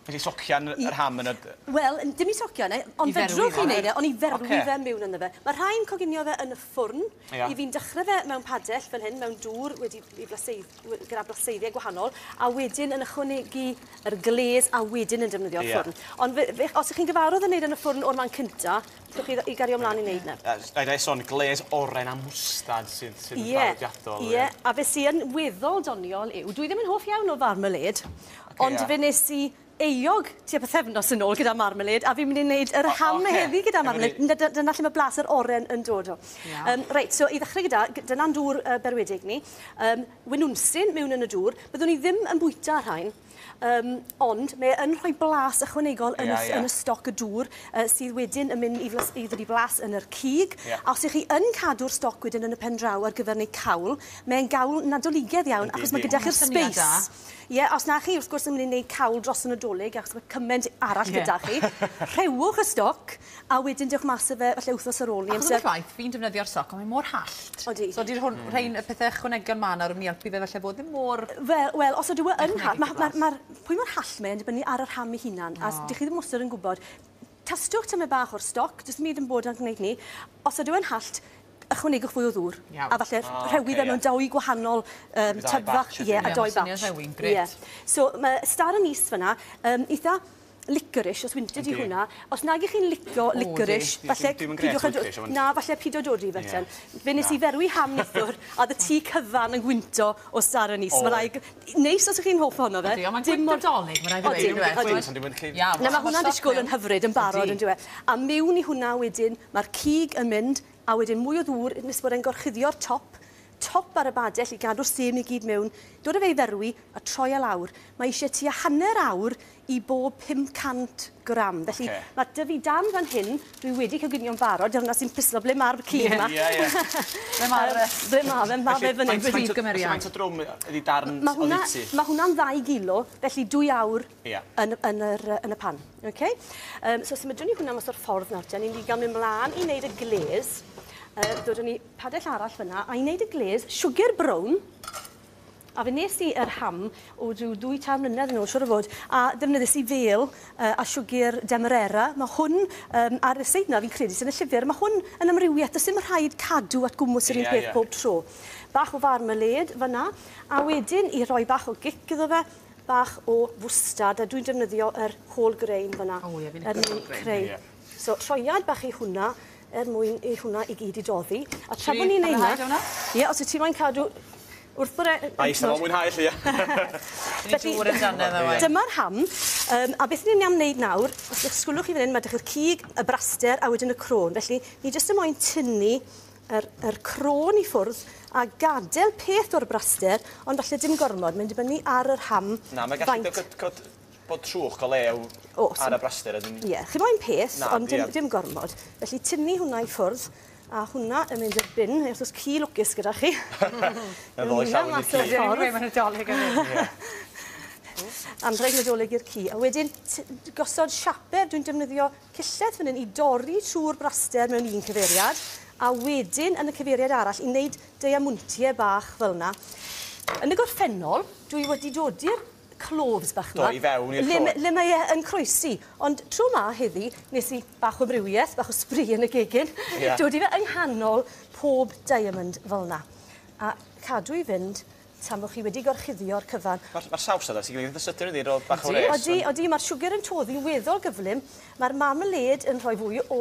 Be di socian yr ham yn y... Wel, dim i socian e, ond fedrwch chi wneud e, ond i ferwi fe miwn ynddo fe. Mae rhai'n coginio fe yn y ffwrn, i fi'n dechrau fe mewn padell fel hyn, mewn dŵr wedi i blaseiddio, gyda blaseiddiau gwahanol, a wedyn yn ychwanegu yr glês a wedyn yn defnyddio'r ffwrn. Ond os ych chi'n gyfarwydd yn wneud e yn y ffwrn o'r man cynta, Dewch i i gario mlan i neud 'na. Yy s- na'i son glês oren a mwstad sydd sydd yn draddodiadol. Ie ie a be' sy yn weddol doniol yw dwi ddim yn hoff iawn o farmalêd ond fe nes i euog tua pythefnos yn ôl gyda marmalêd a fi myn' i neud yr ham heddi gyda marmalêd. Na dy- dyna lle ma' blas yr oren yn dod o. Iawn. Yym reit so i ddechre gyda gy- dyna'n dŵr yy berwedig ni. Yym winwnsyn miwn yn y dŵr. Byddwn i ddim yn bwyta rhain. Um, ond mae yn rhoi blas ychwanegol yn, yeah, y, yeah. yn y stoc y dŵr uh, sydd wedyn yn mynd i, flas, i ddod i blas yn yr cig. Yeah. A os ych chi yn cadw'r stoc wedyn yn y pen draw ar gyfer neu cawl, mae'n gawl nadoligedd iawn Ydy, achos mae gyda chi'r space. Ie, yeah, os na chi wrth gwrs yn mynd i wneud cawl dros y nadolig achos mae cymaint arall yeah. gyda chi, rhewwch y stoc A wedyn dewch mas â fe falle wthnos ar ôl 'ny. Achos am y ffaith, fi'n defnyddio'r soc ond mae mor hallt. Odi. So di'r hwn- rhein y pethe ychwanegion ma' 'na rw myn' i elpu fe falle bod ddim mor... Fel, wel os ydyw e yn ha-... Dechnegig o blas. ...ma' ma' ma'r pwy mor hallt mae e'n dibynnu ar y rham ei hunan. A s- dych chi ddim wastod yn gwbod. Tastwch tymed bach o'r stoc, jyst dim byd yn bod gneud 'ny. Os ydyw e'n hallt, ychwanegwch fwy o ddŵr. Iawn. A falle rh- rhewi fe mewn dou gwahanol yym tub fach. Ie, a dou batch. Ie, ma' swnio'n rhewi'n grêt. Ie. So ma' Star Anise fyn 'na yn itha licorice, os wyntyd i hwnna. Os nag ych chi'n licio licorice, falle pidwch â dod... Na, falle pido dod i fe ten. Fe nes i ferwi ham nithwr, a oedd y tŷ cyfan yn gwynto o star anise. Mae rhaid... Neis os ych chi'n hoff ohono fe. Ydy, ond mae'n gwynt Nadolig, mae'n rhaid i fe fod yn gwynt. Iawn. Na, mae hwnna'n disgwyl yn hyfryd, yn barod, yndyw e. A miwn i hwnna wedyn, mae'r cig yn mynd, a wedyn mwy o ddŵr nes bod e'n gorchuddio'r top, top ar y badell i gadw'r sym i gyd miwn, dod â fe i ferwi a troi e lawr. Mae eisiau tua hanner awr i bob 500 gram. Felly, okay. mae dy fi dan fan hyn, dwi wedi coginio'n barod, dyna sy'n pislo ble mae'r cig yma. Ie, ie. Ble mae'r... Ble mae fe, mae fe fan hyn. Felly, prif gymeriad. Felly, faint o drwm ydi darn odditi? Mae hwnna'n ddau gilo, felly dwy awr yn, yn, yr, yn y pan. Okay? Um, so, symudwn ni hwnna mas o'r ffordd nawr. Dyna ni'n gael mynd mlaen i wneud y glez. Uh, dod ni padell arall fyna, a i wneud y glez, siwgr brown, A wnes i yr ham o ryw ddwy tair mlynedd yn ôl, siwr o fod, a defnyddiais i fêl uh, a siwgr demerara. Mae hwn um, ar y seid na, fi'n credu, sy'n y llyfr. Mae hwn yn amrywiaeth, does dim rhaid cadw at gwmws yr un yeah, peth yeah. pob tro. Bach o farmalade fyna, a wedyn i roi bach o gic iddo fe, bach o fwstad, a dwi'n defnyddio yr whole grain fyna. O, ie, fi'n creu. So troiad bach i hwnna er mwyn i hwnna i gyd i doddi. A tra bo ni'n neud 'na... Ti mwynhau do wnna? Ie os wyt ti moyn cadw wrth yr e- yy... Ai sai'n mwynhau 'lly ie? Dyma'r ham yym a beth ni myn' i am neud nawr os y'ch sgwlwch chi fan 'yn ma' 'dych chi'r cig, y braster a wedyn y crôn felly ni jyst yn moyn tynnu yr yr crôn i ffwrdd a gadel peth o'r braster ond falle dim gormod mae'n dibynnu ar yr ham faint... Na mae gallu dy- cod cod bod trwch o lew Awesome. ar y braster ydyn ni. Ie, chi moyn peth, Na, ond dim, ie. dim gormod. Felly tynnu hwnna i ffwrdd, a hwnna yn mynd i'r bin, neu os oes ci lwcus gyda chi. Yn ddol i llawn i'r ci. Ie, mae yna dolyg yn mynd. Ie. Anrheg Nadolig i'r ci. A wedyn, gosod siaper, dwi'n defnyddio cillell fan hyn i dorri trwy'r braster mewn un cyfeiriad, a wedyn yn y cyfeiriad arall i wneud deiamwntiau bach fel yna. Yn y gorffennol, dwi wedi dodi'r cloves bach yma. Do, i fewn i'r llôn. Le, le mae e yn croesi. Ond tro ma heddi, nes i bach o amrywiaeth, bach o sbri yn y gegin. Yeah. Dod i fe yng nghanol pob diamond fel yna. A cadw i fynd tan bod chi wedi gorchuddio'r cyfan. Mae'r ma saws yna, ti'n gwneud eitha sydyn ydi, roedd bach o res. Odi, odi, mae'r siwgr yn toddi'n weddol gyflym. Mae'r marmalade yn rhoi fwy o,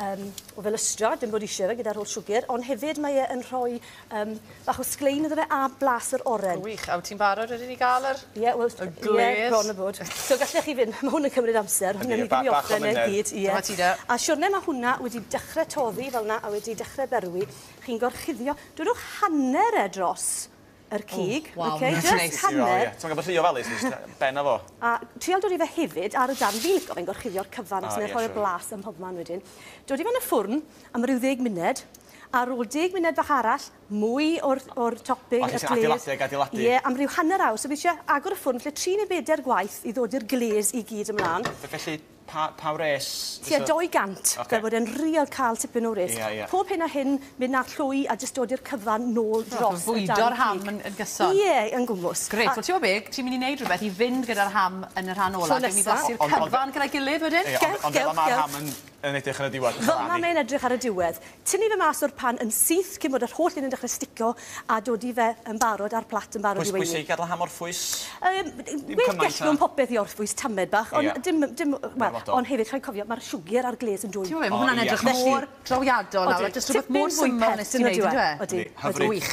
um, o felystra, dim bod eisiau fe gyda'r holl siwgr, ond hefyd mae e yn rhoi Yym, bach o sglein iddo fe a blas yr oren. Gwych, a wyt ti'n barod wedyn i ga'l yr... Ie, wel... Y gwledd? Ie, bron a bod. So gallech chi fyn', ma' hwn yn cymryd amser, hwn newn ni ddim 'i orffen e i gyd, ie. Dyma ti de. A siwrne ma' hwnna wedi dechre toddi fel 'na a wedi dechre berwi, chi'n gorchuddio, dwedwch hanner e dros yr cig, oce, jyst hanner. T'mod gan bo' rhy ofalus nes ta ben a fo. A trial dod i fe hefyd ar y darn, fi'n lico fe'n gorchuddio'r cyfan achos mae e'n rhoi'r blas ym mhobman wedyn. Dod i fe yn y ffwrn am ryw ddeg munud, Ar ôl deg munud fach arall, mwy o'r o'r topping, y glaze... O, ti isie adeiladu ac adeiladu? Ie, am ryw hanner awr. So fi isie agor y ffwrn falle tri neu beder gwaith i ddod i'r glaze i gyd ymlan. F- felly, pa pa wres fysa... Tua 200. Ocê. Fel bod e'n real ca'l tipyn o wres. Ie, ie. Pob hyn a hyn, mynd â'r llwy a jyst dod i'r cyfan nôl dros y dan cig. So bwydo'r ham yn yn gyson? Ie, yn gwmws. Grêt. A- Wel t'mo' be'? Ti'n myn' i neud rwbeth i fynd gyda'r ham yn y rhan ola. Tro nesa. Gewn ni flasu'r cyfan gyda'i gilydd wedyn? Ie, ond ond fel 'a ma'r ham yn yn edrych ar y diwedd, yn calafu. Fel mae e'n edrych ar y diwedd. Tynnu fe mas o'r pan yn syth cyn bod yr holl un yn dechrau sticio a dodi fe yn barod a'r plat yn barod i weini. Pwysig gadl ham orffwys. Yym, gwell gell mewn popeth i orffwys tamed bach, ond dim, dim, wel, ond hefyd rhaid cofio, mae'r siwgr a'r gles yn dwym. Ti'n gwybod be, mae hwnna'n edrych mor drawiadol nawr, a jyst rhywbeth mor syml wnest ti wneud, yn dyw e? Odi, odi, odi. Hyfryd. Wych.